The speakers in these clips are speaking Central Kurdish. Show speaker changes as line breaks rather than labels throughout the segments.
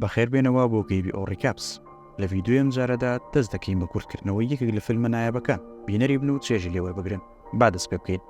بەخێربێنەوە بۆ گەیبی ئۆ ڕیکاپس. لە ڤیدیۆی ئەم جارەدا دەست دەکەین بە کورتکردنەوەی یەکێک لە فیلمە نایابەکان، بینەری بن و چێژی لێ وەربگرن. با دەست پێ بکەین.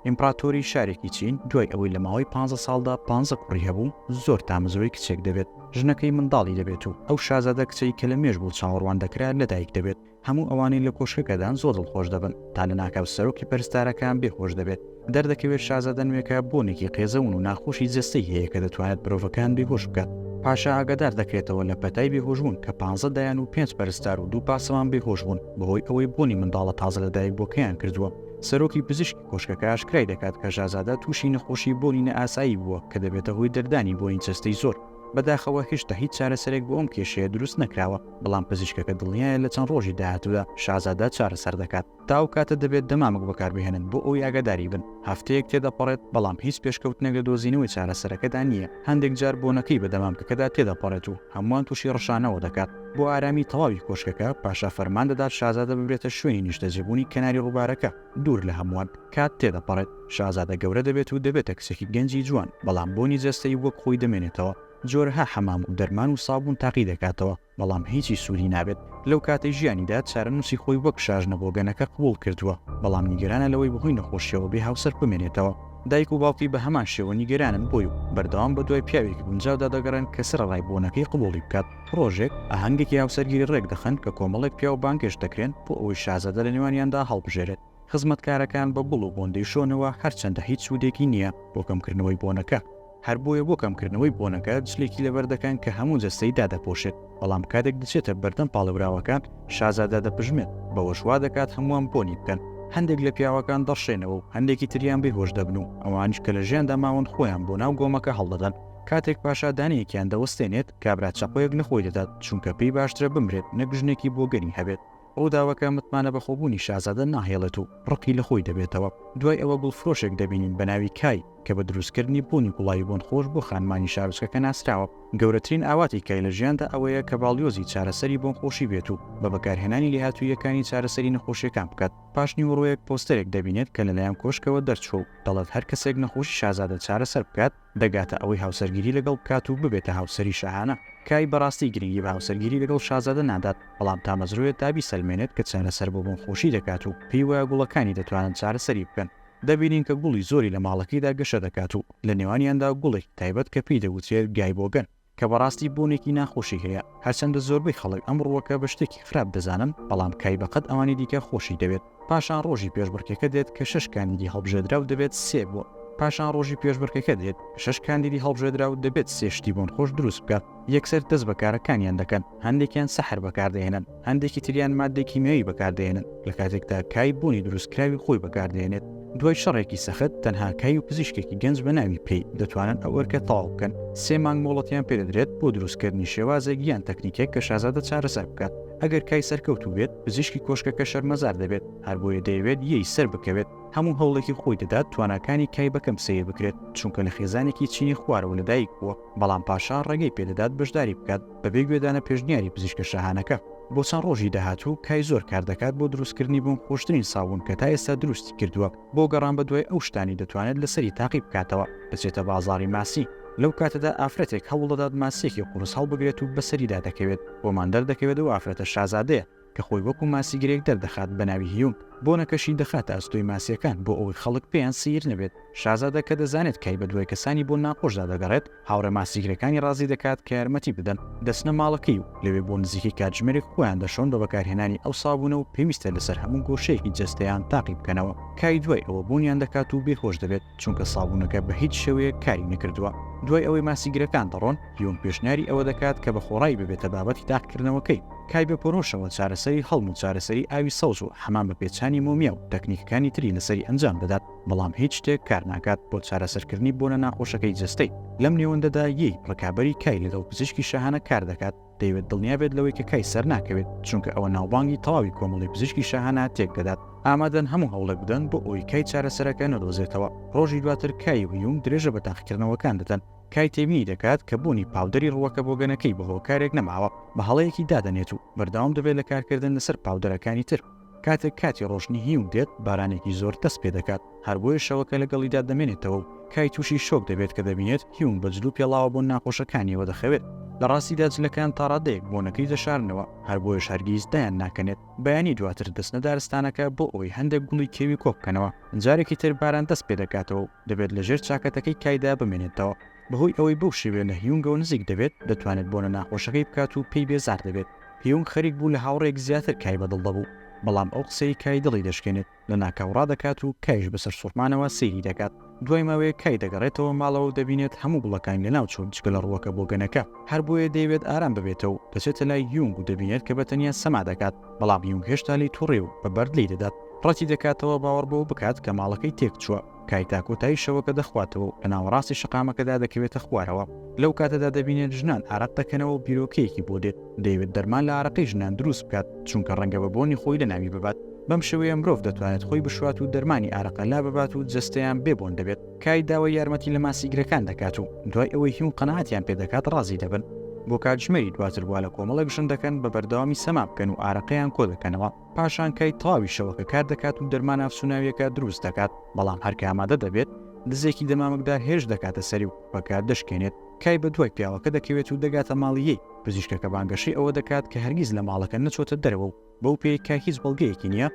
ئیمپڕاتۆری شارێکی چین دوای ئەوەی لە ماوەی پانزە ساڵدا پانزە کوڕی هەبوو، زۆر تامەزرۆی کچێک دەبێت. ژنەکەی منداڵی دەبێت و ئەو شازادە کچەی کە لە مێژ بوو چاوەڕوان دەکرا لەدایک دەبێت. هەموو ئەوانەی لە کۆشکەکەدان زۆر دڵخۆش دەبن، تا لەناکاو سەرۆکی پەرستارەکان بێ هۆش دەبێت. دەردەکەوێت شازادە نوێکە بۆنێکی قێزەون و ناخۆشی جەستەی هەیە کە دەتوانێت مرۆڤەکان بێ هۆش بکات. پاشا ئاگادار دەکرێتەوە لە پەتای بێ هۆشبوون کە پانزە دایان و پێنج پەرستار و دوو پاسەوان بێ هۆش بوون بەهۆی ئەوەی بۆنی منداڵە تازە لەدایکبووەکەیان کردووە. سەرۆکی پزیشکی کۆشکەکە ئاشکرای دەکات کە شازادە تووشی نەخۆشی بۆنی نائاسایی بووە کە دەبێتە هۆی دەردانی بۆنی جەستەی زۆر. بەداخەوە هێشتا هیچ چارەسەرێک بۆ ئەم کێشەیە دروست نەکراوە. بەڵام پزیشکەکە دڵنیایە لە چەند ڕۆژی داهاتوودا شازادە چارەسەر دەکات، تا ئەو کاتە دەبێت دەمامک بەکاربهێنن بۆ ئەوەی ئاگاداری بن، هەفتەیەک تێدەپەڕێت بەڵام هیچ پێشکەوتنێک لە دۆزینەوەی چارەسەرەکەدا نییە، هەندێک جار بۆنەکەی بە دەمامکەکەدا تێدەپەڕێت و هەمووان تووشی ڕشانەوە دەکات، بۆ ئارامی تەواوی کۆشکەکە پاشا فەرمان دەدات شازادە ببرێتە شوێنی نیشتەجێبوونی کەناری ڕووبارەکە، دوور لە هەمووان، کات تێدەپەڕێت شازادە گەورە دەبێت و دەبێتە کچێکی گەنجی جوان، بەڵام بۆنی جەستەی وەک خۆی دەمێنێتەوە، جۆرەها حەمام و دەرمان و سابوون تاقی دەکاتەوە، بەڵام هیچی سوودی نابێت. لەو کاتەی ژیانیدا چارەنووسی خۆی وەک شاژنە بۆگەنەکە قبووڵ کردووە، بەڵام نیگەرانە لەوەی بەهۆی نەخۆشییەوە بێ هاوسەر بمێنێتەوە. دایک و باوکی بە هەمان شێوە نیگەرانن بۆی و بەردەوام بەدوای پیاوێکی گونجاودا دەگەڕێن کە سەرەڕای بۆنەکەی قبووڵی بکات. ڕۆژێک، ئاهەنگێکی هاوسەرگیری ڕێک دەخەن کە کۆمەڵێک پیاو بانگهێشت دەکرێن بۆ ئەوەی شازادە لەنێوانیاندا هەڵبژێرێت. خزمەتکارەکان بە گوڵ و بۆن دەیشۆنەوە، هەرچەندە هیچ سوودێکی نییە بۆ کەمکردنەوەی بۆنەکە، هەر بۆیە بۆ کەمکردنەوەی بۆنەکە جلێکی لەبەر دەکەن کە هەموو جەستەی دادەپۆشێت، بەڵام کاتێک دەچێتە بەردەم پاڵێوراوەکان، شازادە دەپژمێت، بەوەش وا دەکات هەمووان بۆنی بکەن، هەندێک لە پیاوەکان دەڕشێنەوە و هەندێکی تریان بێهۆش دەبن و ئەوانیش کە لە ژیاندا ماون خۆیان بۆ ناو گۆمەکە هەڵدەدەن، کاتێک پاشا دانەیەکیان دەوەستێنێت، کابرا چەقۆیەک لە خۆی دەدات، چونکە پێی باشترە بمرێت نەک ژنێکی بۆگەنی هەبێت. ڕووداوەکە متمانە بەخۆبوونی شازادە ناهێڵێت و ڕقی لە خۆی دەبێتەوە. دوای ئەوە گوڵفرۆشێک دەبینین بە ناوی کای، کە بە دروستکردنی بۆنی گوڵاوی بۆنخۆش بۆ خانمانی شارۆچکەکە ناسراوە. گەورەترین ئاواتی کای لە ژیاندا ئەوەیە کە باڵیۆزی چارەسەری بۆنخۆشی بێت و بە بەکارهێنانی لێهاتووییەکانی چارەسەری نەخۆشییەکان بکات. پاش نیوەڕۆیەک پۆستەرێک دەبینێت کە لەلایەن کۆشکەوە دەرچووە و دەڵێت هەر کەسێک نەخۆشی شازادە چارەسەر بکات، دەگاتە ئەوەی هاوسەرگیری لەگەڵ بکات و ببێتە هاوسەری شاهانە. کای بەڕاستی گرنگی بە هاوسەرگیری لەگەڵ شازادە نادات، بەڵام تامەزرۆیە تا بیسەلمێنێت کە چارەسەر بۆ بۆن خۆشی دەکات و پێی وایە گوڵەکانی دەتوانن چارەسەری بکەن. دەبینین کە گوڵی زۆری لە ماڵەکەیدا گەشە دەکات و لە نێوانیاندا گوڵێکی تایبەت کە پێی دەگوترێت گای بۆگەن. کە بەڕاستی بوونێکی ناخۆشی هەیە، هەرچەندە زۆربەی خەڵک ئەم ڕووەکە بە شتێکی خراپ دەزانن، بەڵام کای بەقەد ئەوانی دیکە خۆشی دەوێت. پاشان ڕۆژی پێشبڕکێکە دێت کە شەش کاندیدی هەڵبژێدراو دەبێت سێ بۆ. پاشان ڕۆژی پێشبڕکێکە دێت کە شەش کاندیدی هەڵبژێدراو دەبێت سێ شتی بۆنخۆش دروست بکات. یەکسەر دەست بە کارەکانیان دەکەن، هەندێکیان سەحر بەکاردەهێنن. هەندێکی تریان ماددەی کیمیایی بەکاردەهێنن، لە کاتێکدا کای بوونی دروستکراوی خۆی بەکاردەهێنێت. دوای شەڕێکی سەخت، تەنها کای و پزیشکێکی گەنج بە ناوی پێی، دەتوانن ئەو ئەرکە تەواو بکەن. سێ مانگ مۆڵەتیان پێ دەدرێت بۆ دروستکردنی شێوازێک یان تەکنیکێک کە شازادە چارەسەر بکات. ئەگەر کای سەرکەوتوو بێت، پزیشکی کۆشکەکە شەرمەزار دەبێت، هەر بۆیە دەیەوێت یەی سەر بکەوێت. هەموو هەوڵێکی خۆی دەدات تواناکانی کای بە کەم سەیر بکرێت، چونکە لە خێزانێکی چینی خوارەوە لەدایکبووە، بەڵام پاشا ڕێگەی پێ دەدات بەشداری بکات. بەبێ گوێدانە پێشنیاری پزیشکە شاهانەکە، بۆ چەند ڕۆژی داهاتوو کای زۆر کار دەکات بۆ دروستکردنی بۆم خۆشترین سابوون کە تا ئێستا دروستی کردووە بۆ گەڕان بەدوای ئەو شتانەی دەتوانێت لەسەری تاقی بکاتەوە بچێتە بازاڕی ماسی لەو کاتەدا ئافرەتێک هەوڵدەدات ماسیەکی قورس هەڵبگرێت و بەسەریدا دەکەوێت بۆمان دەردەکەوێت ئەو ئافرەتە شازادەیە کە خۆی وەکو ماسی گرێک دەردەخات بە ناوی هیونگ، بۆنەکەشی دەخاتە ئەستۆی ماسییەکان بۆ ئەوەی خەڵک پێیان سەیر نەبێت، شازادە کە دەزانێت کای بە دوای کەسانی بۆن ناخۆشدا دەگەڕێت، هاوڕێ ماسیگرەکانی ڕازی دەکات کە یارمەتی بدەن، دەچنە ماڵەکەی و لەوێ بۆ نزیکەی کاتژمێرێک خۆیان دەشۆن بە بەکارهێنانی ئەو سابوونە و پێویستە لەسەر هەموو گۆشەیەکی جەستەیان تاقی بکەنەوە، کای دوای ئەوە بۆنیان دەکات و بێهۆش دەبێت. چونکە سابوونەکە بە هیچ شێوەیەک کاری نەکردووە. دوای ئەوەی ماسیگرەکان دەڕۆن، یۆنگ پێشنیاری ئەوە دەکات کە بە خۆڕایی ببێتە بابەتی تاقیکردنەوەکەی، کای بە پۆرۆشەوە چارەسەری هەڵم و چارەسەری ئاوی سەوز و حەمام بە پێچانی مۆمیا و تەکنیکەکانی تری لەسەری ئەنجام دەدات، بەڵام هیچ شتێک کار ناکات بۆ چارەسەرکردنی بۆنە ناخۆشەکەی جەستەی. لەم نێوەندەدا، یی، ڕکابەری کای لەگەڵ پزیشکی شاهانە کار دەکات، دەیەوێت دڵنیا بێت لەوەی کە کای سەر ناکەوێت، چونکە ئەوە ناوبانگی تەواوی کۆمەڵی پزیشکی شاهانە تێک دەدات. ئامادەن هەموو هەوڵێک بدەن بۆ ئەوەی کای چارەسەرەکە نەدۆزێتەوە. ڕۆژی دواتر کای و هیونگ درێژە بە تاقیکردنەوەکان دەدەن. کای تێبینی دەکات کە بوونی پاودەری ڕووەکە بۆگەنەکەی بە هۆکارێک نەماوە، بە هەڵەیەکی دادەنێت و بەردەوام دەبێت لە کارکردن لەسەر پاودەرەکانی تر. کاتێک کاتی ڕۆشتنی هیوک دێت، بارانێکی زۆر دەست پێ دەکات، هەر بۆیە شەوەکە لەگەڵیدا دەمێنێتەوە و کای تووشی شۆک دەبێت کە دەبینێت هیوک بە جل و پێڵاوە بۆن ناخۆشەکانییەوە دەخەوێت. لە ڕاستیدا جلەکان تا ڕادەیەک بۆنەکەی دەشارنەوە، هەر بۆیەش هەرگیز دایان ناکەنێت. بەیانی دواتر دەچنە دارستانەکە بۆ ئەوەی هەندێک گوڵی کێوی کۆ بکەنەوە. جارێکی تر باران دەست پێ دەکاتەوە و دەبێت لەژێر چاکەتەکەی کایدا بمێنێتەوە. بەهۆی ئەوەی بەو شێوەیە لە هیونگەوە نزیک دەبێت، دەتوانێت بۆنە ناخۆشەکەی بکات و پێی بێزار دەبێت. هیونگ خەریک بوو لە هاوڕێیەک زیاتر کای بەدڵ دەبوو، بەڵام ئەو قسەی کای دڵی دەشکێنێت. لەناکاو ڕادەکات و کایش بە سەرسوڕمانەوە سەیری دەکات. دوای ماوەیەک کای دەگەڕێتەوە ماڵەوە و دەبینێت هەموو گوڵەکان لەناوچوون جگە لە ڕووەکە بۆگەنەکە. هەر بۆیە دەیەوێت ئارام ببێتەوە و دەچێتە لای هیونگ و دەبینێت کە بە تەنیا سەما دەکات، بەڵام هیونگ هێشتا لێی توڕەیە و بە بەرد لێی دەدات. ڕەتی دەکاتەوە باوەڕ بەوە بکات کە ماڵەکەی تێکچووە. کای تا کۆتایی شەوەکە دەخواتەوە و لە ناوەڕاستی شەقامەکەدا دەکەوێتە خوارەوە، لەو کاتەدا دەبینێت ژنان ئارەق دەکەنەوە و بیرۆکەیەکی بۆ دێت، دەیەوێت دەرمان لە ئارەقەی ژنان دروست بکات، چونکە ڕەنگە بە بۆنی خۆی لەناوی ببات، بەم شێوەیە مرۆڤ دەتوانێت خۆی بشوات و دەرمانی ئارەقە لاببات و جەستەیان بێ بۆن دەبێت. کای داوای یارمەتی لە ماسیگرەکان دەکات و دوای ئەوەی هیون قەناعەتیان پێ دەکات ڕازی دەبن، بۆ کاتژمێری دواتر وا لە کۆمەڵێک ژن دەکەن بە بەردەوامی سەما بکەن و ئارەقەیان کۆ دەکەنەوە، پاشان کای تاوی شەوەکە کار دەکات و دەرمان ئافسوناویەکە دروست دەکات، بەڵام هەرکە ئامادە دەبێت، دزێکی دەمامکدار هێرش دەکاتە سەری و پەکە دەشکێنێت، کای بەدوای پیاوەکە دەکەوێت و دەگاتە ماڵی ی، پزیشکەکە بانگەشەی ئەوە دەکات کە هەرگیز لە ماڵەکە نەچۆتە دەرەوە و بەو پێی کە هیچ بەڵگەیەکی نییە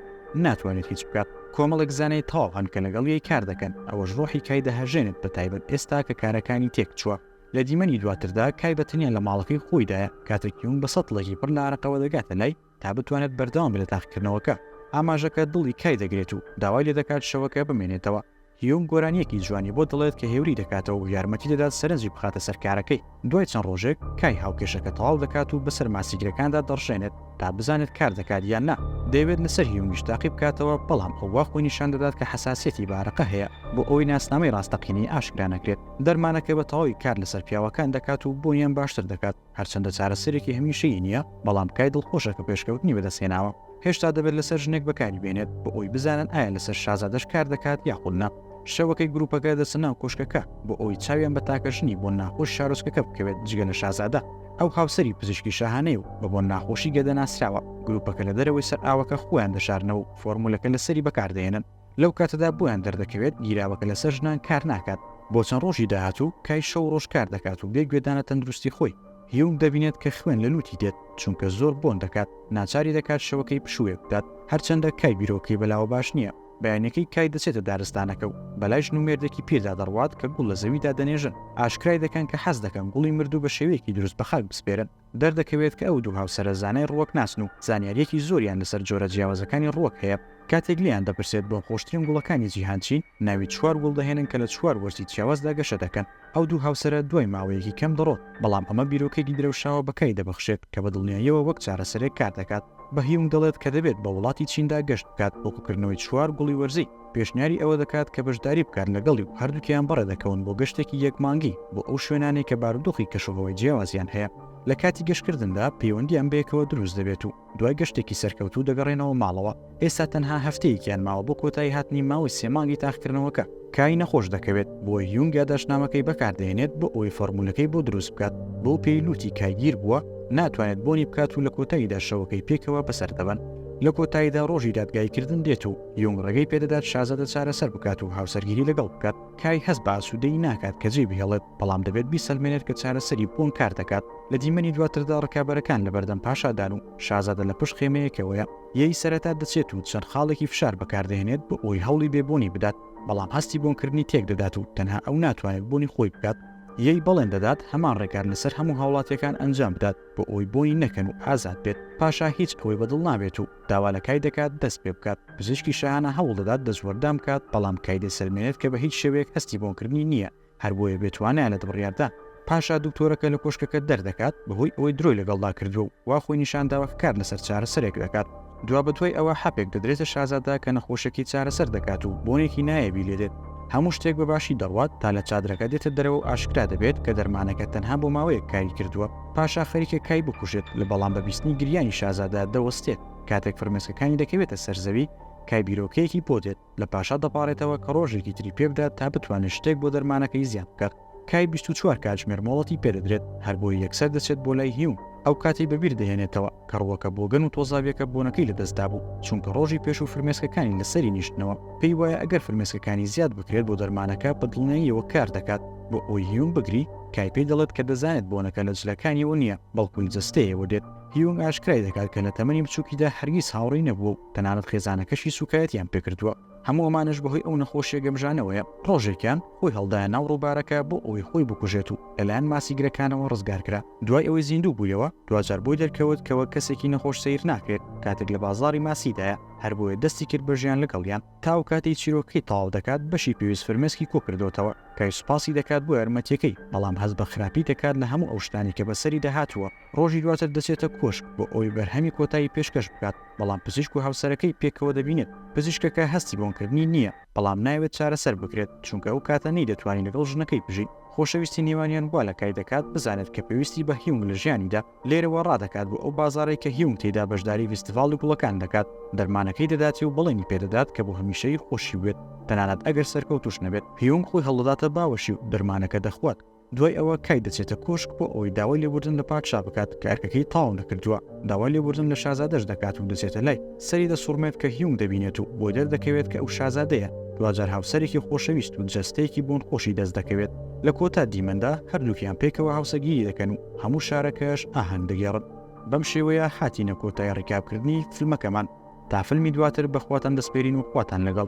ناتوانێت هیچ بکات، کۆمەڵێک زانای تاو هەن کە لەگەڵ ی کار دەکەن، ئەوەش ڕۆحی کای دەهەژێنێت بەتایبەت ئێستا کە کارەکانی تێکچووە. لە دیمەنی دواتردا کای بەتەنیا لە ماڵەکەی خۆیدایە، کاتێک یونگ بە سەتڵێکی پڕ لە ئارەقەوە دەگاتە لای، تا بتوانێت بەردەوام بێت لە تاقیکردنەوەکە، ئاماژەکە دڵی کای دەگرێت و داوای لێ دەکات شەوەکە بمێنێتەوە. هیونگ گۆرانییەکی جوانی بۆ دەڵێت کە هێوری دەکاتەوە و یارمەتی دەدات سەرنجی بخاتە سەر کارەکەی. دوای چەند ڕۆژێک، کای هاوکێشەکە تەواو دەکات و بەسەر ماسیگرەکاندا دەڕژێنێت تا بزانێت کار دەکات یان نا. دەیەوێت لەسەر هیونگیش تاقی بکاتەوە، بەڵام ئەو وا خۆی نیشان دەدات کە حەساسیەتی بە ئارەقە هەیە، بۆ ئەوەی ناسنامەی ڕاستەقینەی ئاشکرا نەکرێت. دەرمانەکە بە تەواوی کار لەسەر پیاوەکان دەکات و بوونیان باشتر دەکات. هەرچەندە چارەسەرێکی هەمیشەیی نییە، بەڵام کای دڵخۆشە کە پێشکەوتنی بەدەستهێناوە. هێشتا دەبێت لەسەر ژنێک بەکاری بێنێت بۆ ئەوی بزانن ئایا لەسەر شازادەش کار دەکات یاخود نا. شەوەکەی گروپەکە دەچنە ناو کۆشکەکە بۆ ئەوەی چاویان بە تاکە ژنی بۆن ناخۆش شارۆچکەکە بکەوێت جگە لە شازادە. ئەو هاوسەری پزیشکی شاهانەیە و بە بۆن ناخۆشی گەدە ناسراوە. گروپەکە لە دەرەوەی سەر ئاوەکە خۆیان دەشارنەوە و فۆرمولەکە لەسەری بەکاردەهێنن. لەو کاتەدا بۆیان دەردەکەوێت گیراوەکە لەسەر ژنان کار ناکات بۆ چەند ڕۆژی داهاتوو کای شەو ڕۆژ کار دەکات و بێ گوێدانە تەندروستی خۆی هیوم دەبینێت کە خوێن لە لوتی دێت چونکە زۆر بۆن دەکات ناچاری دەکات شەوەکەی پشووێ بدات هەرچەندە کای بیرۆکەی بەلاوە باش نییە بەیانەکەی کای دەچێتە دارستانەکە و بەلای ژن و مێردێکی پیردا دەڕوات کە گوڵ لە زەویدا دەنێژن ئاشکرای دەکەن کە حەز دەکەن گوڵی مردوو بە شێوەیەکی دروست بە خاک بسپێرن دەردەکەوێت کە ئەو دوو هاوسەرە زانای ڕووەکناسن و زانیارییەکی زۆریان لەسەر جۆرە جیاوازەکانی ڕووەک هەیە. کاتێک لێیان دەپرسێت بۆ خۆشترین گوڵەکانی جیهان چین، ناوی چوار گوڵ دەهێنن کە لە چوار وەرزی جیاوازدا گەشە دەکەن. ئەو دوو هاوسەرە دوای ماوەیەکی کەم دەڕۆن، بەڵام ئەمە بیرۆکەیەکی درەوشاوە بە کای دەبەخشێت کە بە دڵنیاییەوە وەک چارەسەرێک کاردەکات. بە هیونگ دەڵێت کە دەبێت بە وڵاتی چیندا گەشت بکات بۆ کۆکردنەوەی چوار گوڵی وەرزی. پێشنیاری ئەوە دەکات کە بەشداری بکات لەگەڵی و هەردووکیان بەڕێ دەکەون بۆ گەشتێکی یەک مانگی بۆ ئەو شوێنانەی کە بارودۆخی کەشوهەوای جیاوازیان هەیە، لە کاتی گەشتکردندا پەیوەندییان بەیەکەوە دروست دەبێت و دوای گەشتێکی سەرکەوتوو دەگەڕێنەوە ماڵەوە، ئێستا تەنها هەفتەیەکیان ماوە بۆ کۆتایی هاتنی ماوەی سێ مانگی تاقیکردنەوەکە. کای نەخۆش دەکەوێت، بۆیە یونگ یاداشتنامەکەی بەکاردەهێنێت بۆ ئەوەی فۆرمولەکەی بۆ دروست بکات، بەو پێی لوتی کای گیر بووە، ناتوانێت بۆنی بکات و لە کۆتاییدا شەوەکەی پێکەوە بەسەر دەبەن، لە کۆتاییدا ڕۆژی دادگاییکردن دێت و. یونگ ڕێگەی پێدەدات شازادە چارەسەر بکات و هاوسەرگیری لەگەڵ بکات. کای هەست بە ئاسوودەیی ناکات کە جێی بهێڵێت، بەڵام دەبێت بیسەلمێنێت کە چارەسەری بۆن کار دەکات. لە دیمەنی دواتردا ڕکابەرەکان لەبەردەم پاشادان و شازادە لە پشت خێمەیەکەوەیە. یێی سەرەتا دەچێت و چەند خاڵێکی فشار بەکاردەهێنێت بۆ ئەوەی هەوڵی بێ بۆنی بدات، بەڵام هەستی بۆنکردنی تێکدەدات و تەنها ئەو ناتوانێت بۆنی خۆی بکات. یێی بەڵێن دەدات هەمان ڕێکار لەسەر هەموو هاوڵاتییەکان ئەنجام بدات. بۆ ئەوەی بۆنی نەکەن و ئازاد بێت، پاشا هیچ ئەوەی بەدڵ نابێت و داوا لە کای دەکات دەست پێ بکات، پزیشکی شاهانە هەوڵ دەدات دەستوەردان بکات، بەڵام کای دەسەلمێنێت کە بە هیچ شێوەیەک هەستی بۆنکردنی نییە، هەر بۆیە بێ توانایە لە دڵڕیاردان. پاشا دکتۆرەکە لە کۆشکەکە دەردەکات، بەهۆی ئەوەی درۆی لەگەڵدا کردووە و وا خۆی نیشان داوە کە کار لەسەر چارەسەرێک دەکات، دوابەدوای ئەوە حەپێک دەدرێتە شازادە کە نەخۆشەکەی چارەسەر دەکات و بۆنێکی نایەبی لێ دێت، هەموو شتێک بە باشی دەڕوات تا لە چادرەکە دێتە دەرەوە و ئاشکرا دەبێت کە دەرمانەکە تەنها بۆ ماوەیەک کاری کردووە، پاشا خەریکە کای بکوژێت لە بەڵام بە بیستنی گریانی شازادە دەوەستێت، کاتێک فرمێسکەکانی دەکەوێتە سەر زەوی کای بیرۆکەیەکی بۆ دێت. لە پاشا دەپاڕێتەوە کە ڕۆژێکی تری پێ بدات تا بتوانێت شتێک بۆ دەرمانەکەی زیاد بکات. کای بیست و چوار کاتژمێر مۆڵەتی پێ دەدرێت، هەربۆیە یەکسەر دەچێت بۆ لای هیون، ئەو کاتی بەبیر دەهێنێتەوە کە ڕووەکە بۆگەن و تۆزاویەکە بۆنەکەی لەدەست دابوو، چونکە ڕۆژی پێش و فرمێسکەکانی لەسەری نیشتنەوە، پێی وایە ئەگەر فرمێسکەکانی زیاد بکرێت بۆ دەرمانەکە بە دڵنیاییەوە کار دەکات، بۆ ئەوەی هیون بگری، کای پێی دەڵێت کە دەزانێت بۆنەکە لە جلەکانیەوە نییە، بەڵکو لە جەستەیەوە دێت. هیونگ ئاشکرای دەکات کە لە تەمەنی بچووکیدا هەرگیز هاوڕی نەبووە و تەنانەت خێزانەکەشی سوکایەتیان پێکردووە هەموو ئەمانش بەهۆی ئەو نەخۆشیە گەمژانەوەیە ڕۆژێکیان خۆی هەڵدایە ناو ڕووبارەکە بۆ ئەوەی خۆی بکوژێت و لەلایەن ماسیگرەکانەوە ڕزگارکرا دوای ئەوەی زیندوو بوویەوە دواجار بۆی دەرکەوت کەەوە کەسێکی نەخۆش سیر ناکرێت کاتێک لە بازاری ماسیدایە هەر بۆیە دەستی کرد بەژیان لەگەڵیان تاو کاتی چیرۆکەی تاو دەکات بەشی پێویست فرمێسکی کۆکردوتەوە کای سوپاسی دەکات بۆ یارمەتیەکەی بەڵام هەز بە خراپی دەکات لە هەموو ئەو شتانی کە بەسەری داهاتووە ڕۆژی دواتر دەچێتە کۆشک بۆ ئەوەی بەرهەمی کۆتایی پێشکەش بکات، بەڵام پزیشک و هاوسەرەکەی پێکەوە دەبینێت. پزیشکەکە هەستی بۆنکردنی نییە، بەڵام نایەوێت چارەسەر بکرێت، چونکە ئەو کاتە نەیدەتوانی لەگەڵ ژنەکەی بژی. خۆشەویستی نێوانیان وا لە کای دەکات بزانێت کە پێویستی بە هیونگ لە ژیانیدا. لێرەوە ڕادەکات بۆ ئەو بازاڕەی کە هیونگ تێیدا بەشداری ڤیستیڤاڵی گوڵەکان دەکات، دەرمانەکەی دەداتێ و بەڵێنی پێدەدات کە بۆ هەمیشەیی خۆشی بوێت، تەنانەت ئەگەر سەرکەوتووش نەبێت. هیونگ خۆی هەڵدەداتە باوەشی و دەرمانەکە دەخوات. دوای ئەوە کای دەچێتە کۆشک بۆ ئەوەی داوای لێبوردن لە پادشا بکات کە ئەرکەکەی تەواو نەکردووە، داوای لێبوردن لە شازادەش دەکات و دەچێتە لای، سەری دەسوڕمێت کە هیونگ دەبینێت و بۆی دەردەکەوێت کە ئەو شازادەیە، دواجار هاوسەرێکی خۆشەویست و جەستەیەکی بۆنخۆشی دەست دەکەوێت، لە کۆتا دیمەندا هەردووکیان پێکەوە هاوسەگیری دەکەن و هەموو شارەکەش ئاهەنگ دەگێڕن. بەم شێوەیە هاتینە کۆتای ڕیکابکردنی فلمەکەمان، تا فلمی دواتر بەخواتان دەسپێرین و خواتان لەگەڵ.